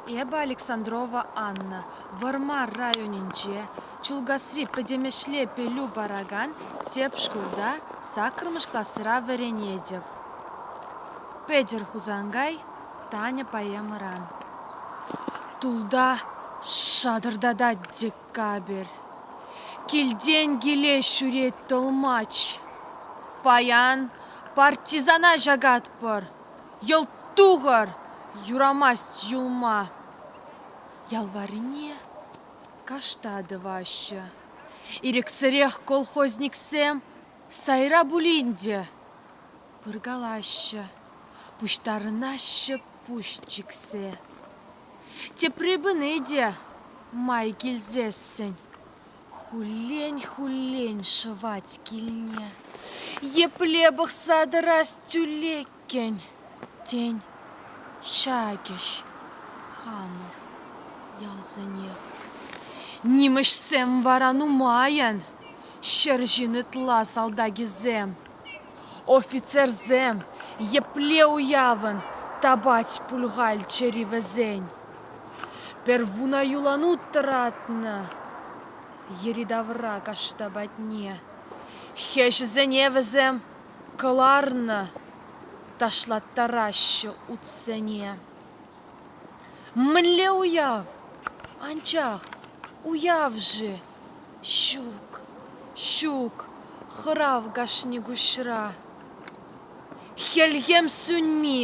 Эпӗ Александрова Анна, Вӑрмар районӗнче, Чулкасри пӗтӗмӗшле пӗлӳ паракан тӗп шкулта саккӑрмӗш класра вӗренетӗп. Петӗр Хусанкай Таня поэмӑран. Тулта шатӑртатать декабрь. Килтен килес ҫӳрет тӑлмач. Паян партизана ҫакатпӑр. Йӑлт тухӑр! Юрамасть юлма. Ял варрине кашта тӑваҫҫӗ. Ирӗксӗрех колхозниксем сайра пулин те пыркалаҫҫӗ, пуҫтарӑнаҫҫӗ пуҫ чиксе. Тепри пыни те май килсессӗн Хуллен-хуллен шӑвать килне, Епле пӑхса тӑрас тӳлеккӗн, Тен, ҫакӗҫ хамӑр ялсенех. Нимӗҫсем вара нумайӑн, Ҫӗр ҫын ытла салтакӗсем. Офицерсем епле уявӑн тапать пуль-халь чӗри вӗсен! Первуна юланут тӑратнӑ йӗри-тавра кашта патне. Хӗҫӗсене вӗсем кӑларнӑ, ташлаттараҫҫӗ утсене. Мӗнле уяв? Анчах уяв-ши ҫук ҫук хӑрав кашни куҫра хӗлхем сӳнми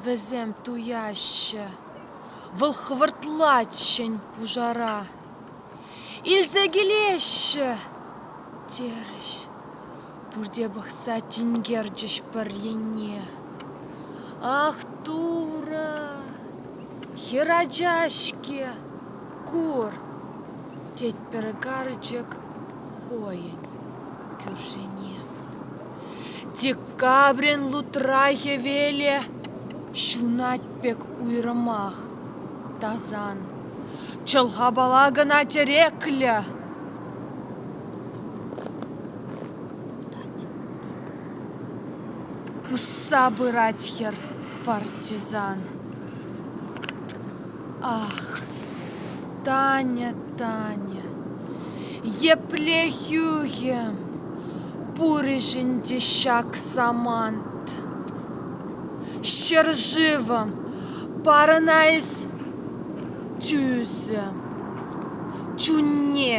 вӗсем туяҫҫӗ вӑл хӑвӑртлатҫӗн пушара илсе килеҫҫӗ терӗҫ Пурте пӑхса тинкерчӗҫ пӗр енне. Ах, Турӑ, хӗр ача-ҫке, кур, тет пӗр карчӑк хӑйӗн кӳршине. Декабрин лутра хӗвеле ҫунать пек уйрӑмах тасан. Чӑлхапала кӑна тӗреклӗ. усса пырать хӗр партизан ах таня таня епле хӳхӗм пурӗҫ ӗнтӗ ҫак самант ҫӗршывӑм парӑнайс тӳсӗм чунне